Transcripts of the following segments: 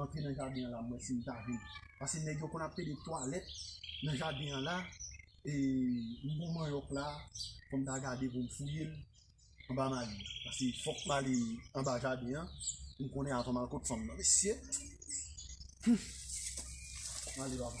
antre nan jaden an la m wè si m ta vin pase nèg yo konn ap pede twalèt nan jaden an la e m gon manyòk la fò m ta gade pou m fouye l anba magi pase fòk m ale anba jaden an pou m konnen avan m al kot fanm nan mesye humm m ale baba.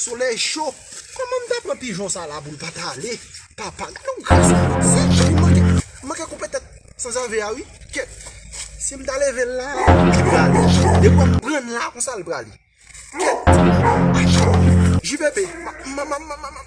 Solèy cho, kòman m ta pran pijon sa la pou l pa t ale? Papa, gade yon gras yon moun sèch wi, m manke, m manke koupe tèt sanzave a wi. Kyèt, si m ta leve l la, li prale. Depi m pran l la, konsa l prale. Kyèt, achi, JVB, m ap, m ap, m ap, m ap.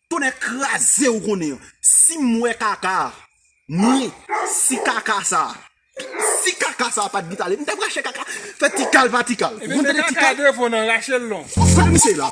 Tonnè kraze ou konnen an si m wè kaka mwen si kaka sa si kaka sa pat git ale m tap rache kaka fè tikal pa tikal ou konn tande tikal. Kote misye ye la.